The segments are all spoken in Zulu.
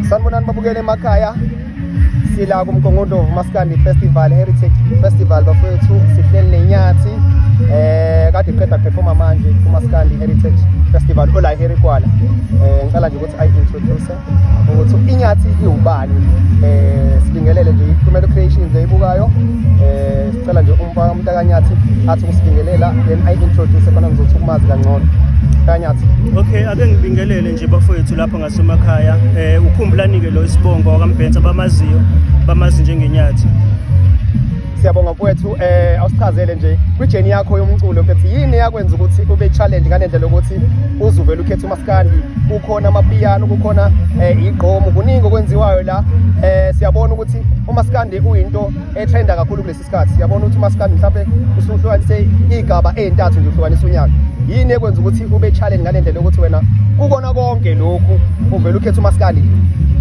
sanibonani babukele emakhaya sila kumgongondo umaskandi festival heritage festival bafowethu sihleli nenyathi eh kade qeda performa manje kumaskandi heritage festival ola herikwala eh ngicela nje ukuthi ayi introduce ukuthi inyathi iwubani eh sibingelele nje iphumela creations eyibukayo eh sicela nje umfaka umntakanyathi athi ukusibingelela then ayi introduce khona ngizothi ukumazi kangcono kanyathi okay ake ngibingelele nje bafowethu lapha basemakhaya um eh, ukhumbulani-ke lo isibongo wakambhensa bamaziyo bamazi njengenyathi siyabonga mfowethu um eh, awusichazele nje kwijeni yakho yomculo mfethu yini eyakwenza ukuthi ube challenge ngale ndlela yokuthi uzuvele ukhetha umaskandi kukhona amapiyano kukhona um eh, igqomo kuningi okwenziwayo la um siyabona ukuthi umaskandi uyinto ethenda kakhulu kulesi isikhathi siyabona ukuthi umaskandi mhlawumbe usuhlukanise iy'gaba ey'ntathu nje uhlukanisa unyaka yini ekwenza ukuthi ube challenge ngale ndlela yokuthi wena kukona konke lokhu uvele ukhetha umaskandi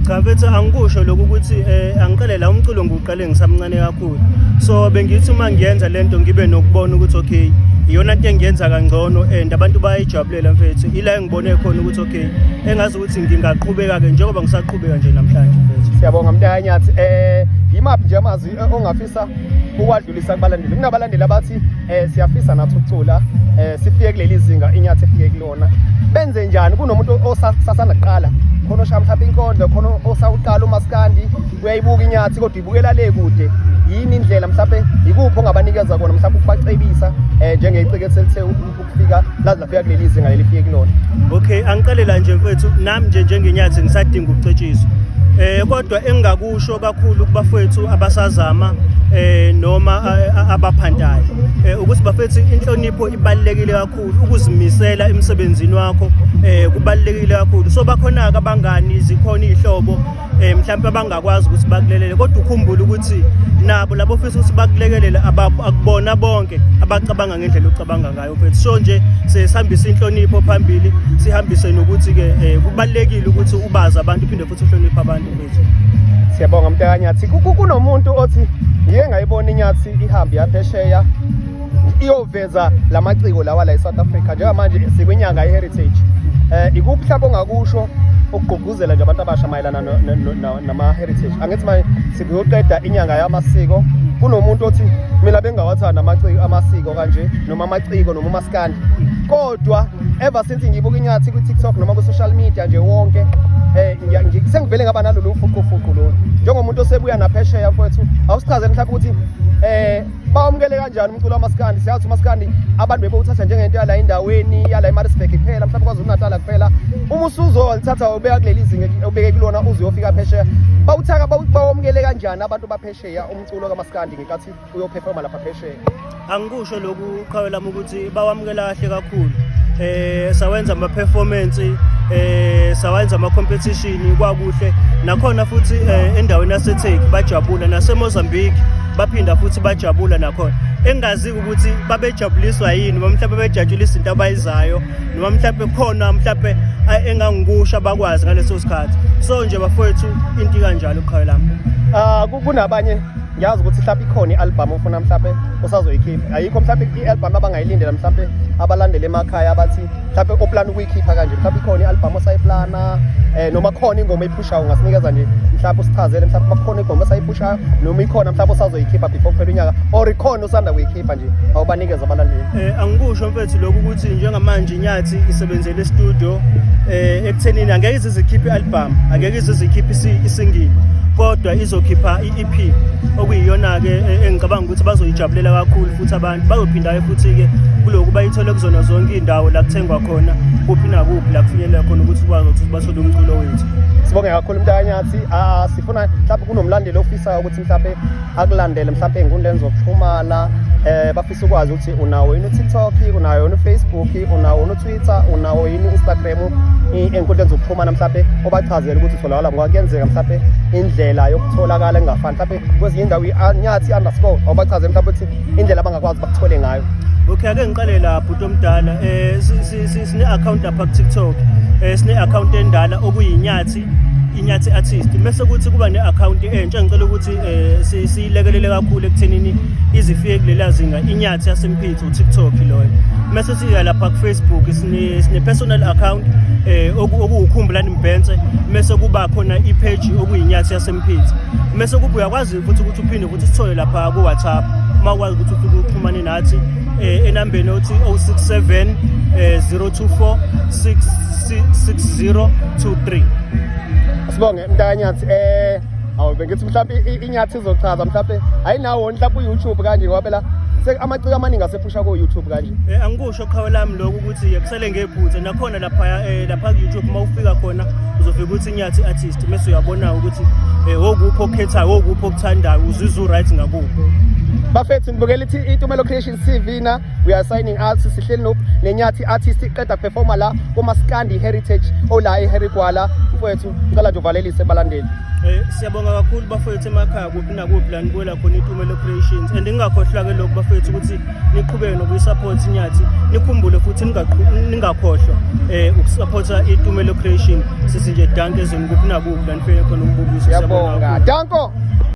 cha bethu angikusho lokhu ukuthi um angiqale la umculo ngiwuqale ngisamncane kakhulu so bengithi uma ngiyenza le nto ngibe nokubona ukuthi okay iyona nto engiyenza kangcono and abantu bayayijabulela mfethu ila engibone khona ukuthi okay engazi ukuthi ngingaqhubeka-ke njengoba ngisaqhubeka nje namhlanje mfethu siyabonga mntayanyathi um yimaphi nje amazwi eh, ongafisa ukwadlulisa kubalandeli kunabalandeli abathi um siyafisa nathi ukucula um sifike kuleli zinga inyathi efike kulona benze njani kunomuntu osasanda kuqala khona oshaya mhlawumbe inkondo khona osawuqala umaskandi uyayibuka inyathi kodwa ibukela le kude yini indlela mhlawumbe yikuphi ongabanikeza kona mhlawumbe ukubacebisa um njengecikethelithe fika lazi lafika kuleli zinga leli fike kulona okay angiqale la nje mfethu nami nje njengenyathi ngisadinga ukucetshiswa eh kodwa engingakusho kakhulu kubafethu abasazama eh noma abaphantayo eh ukuthi bafethu inhlonipho ibalekile kakhulu ukuzimisela emsebenzini wakho eh kubalekile kakhulu so bakhona ke abangani zikhona izihlobo eh mhlawumbe abangakwazi ukuthi bakulelele kodwa ukhumbule ukuthi nabo labo ofisa ukuthi bakulekelele akubona bonke abacabanga ngendlela ocabanga ngayo mfethu so nje sesihambisa inhlonipho phambili sihambise nokuthi ke eh, kubalekile ukuthi ubazi abantu phinde futhi uhloniphe abantu mfethu siyabonga mntakanyathi kunomuntu othi ngiye ngayibona inyathi ihambe yaphesheya iyoveza la maciko lawa la e-south africa njengamanje sikwinyanga i-heritage um ikuphi mhlawumbe ongakusho ukugqugqu Uzela nje abantu abasha mayelana nama-heritage angithi manje sikuyoqeda inyanga yamasiko kunomuntu othi mina bengawathanda amasiko kanje noma amaciko noma umasikandi kodwa ever since ngibuka inyathi kwi-tiktok noma kwi-social media nje wonke Eh, um sengivele ngaba nalolu fuqufuqu lolu njengomuntu osebuya naphesheya mfowethu awusichazele mhlawumbe ukuthi um bawamukele kanjani umculo wamaskandi siyazi umaskandi abantu bebewuthatha njengento yala endaweni yala emarisburg kuphela mhlawumbe kwazulu-natala kuphela uma usuzolithatha ubeka kuleli zinga ubeke kulona uze uyofika phesheya bawuthaka bawamukele kanjani abantu baphesheya umculo kamaskandi ngenkathi uyophefoma lapha phesheya angikusho lokhu qhawe lami ukuthi Bawamukela kahle kakhulu. Eh sawenza ama performance eh sawenza ama competition kwakuhle nakhona futhi eh, endaweni yaseTheku bajabula naseMozambique baphinda futhi bajabula nakhona engazi ukuthi babejabuliswa yini noma mhlawumbe bejatshula izinto abayizayo noma mhlawumbe khona mhlawumbe engangikusha bakwazi ngaleso sikhathi so nje bafowethu into kanjalo qhawe lami ah kunabanye ngiyazi ukuthi mhlawumbe ikhona i-albhamu ofuna mhlawumbe usazoyikhipha ayikho mhlawumbe i-albhamu abangayilindela mhlawumbe abalandele emakhaya abathi mhlawumbe oplana ukuyikhipha kanje mhlawumbe ikhona i-albhamu osayiplana um noma khona ingoma eyiphushayo ungasinikeza nje mhlawumbe usichazele mhlawumbe bakhona ingoma osayiphushayo noma ikhona mhlawumbe osazoyikhipha before kuphela unyaka or ikhona osanda kuyikhipha nje awubanikeza abalandeli eh angikusho mfethu lokhu ukuthi njengamanje inyathi isebenzele e-studio eh ekuthenini angeke izizikhiphe i-album angeke izizikhiphe isingili kodwa izokhipha i-EP okuyiyona ke e, engicabanga ukuthi bazoyijabulela kakhulu futhi abantu bazophinda ke futhi ke kuloku bayithole kuzona zonke indawo la kuthengwa khona kuphi nakuphi la kufinyelela khona ukuthi ukwazi ukuthi bathole umculo wethu sibonge kakhulu mntakanyathi ah, sifuna mhlawumbe kunomlandeli ofisayo ukuthi mhlawumbe akulandele mhlawumbe ey'nkundleni zokuxhumana um bafisa ukwazi ukuthi unawo yini utiktok unayo yini ufacebook unawo yini utwitter unawo yini u-instagram ey'nkundleni zokuxhumana mhlawumbe obachazele ukuthi utholakala ngoba kuyenzeka mhlawumbe indlela yokutholakala engafani mhlawumbe kwezinye indawo inyathi underscore obachazele mhlawumbe ukuthi indlela abangakwazi bakuthole ngayo okay ake ngiqale la bhuti omdala um sine-akhawunti lapha kutiktok um sine-akhawunti endala okuyinyathi inyathi artist mese kuthi kuba ne-akhawunti entsha ngicela ukuthi um siyilekelele kakhulu ekuthenini izifike kulela zinga inyathi yasemphitho utiktok loyo mese siya lapha kufacebook sine-personal account um okuwukhumbulani mbhense mese kuba khona ipheji okuyinyathi yasemphitho mese kuba uyakwazi futhi ukuthi uphinde ukuthi sithole lapha ku-whatsapp uma ukwazi ukuthi ufike uxhumane nathi um enambeni othi 067 um 024 6023 sibonge mntakanyathi um eh, awu bengithi mhlawumbe inyathi izochaza mhlawumbe ayinawo mhlawumbe uyoutube kanje ngoba phela amaciko amaningi asephusha ko-youtube kanje um angikusho Qhawe lami lokhu ukuthi-ke kusele ngephutha nakhona laphaya eh, lapha ku-youtube uma ufika khona uzofika ukuthi inyathi artist mese uyabona ukuthi um wokuphi okukhethayo wokuphi okuthandayo uzizwe u-right ngakuphi bafethu nibukela ithi itumelo creation tv na we are signing out sihleli no nenyathi artist iqeda performer la kuma skandi heritage ola eherigwala mfowethu ngicela nje uvalelise balandeli eh siyabonga kakhulu bafowethu emakhaya kuphi Nakuphi la nibuyela khona iTumelo Creations and ningakhohlwa ke lokhu bafethu ukuthi niqhubeke nokuyisupport inyathi nikhumbule futhi ningakhohlwa eh ukusupporta iTumelo Creation sisi nje danke ezweni kuphi nakuphi la nifike khona umbukiso siyabonga danko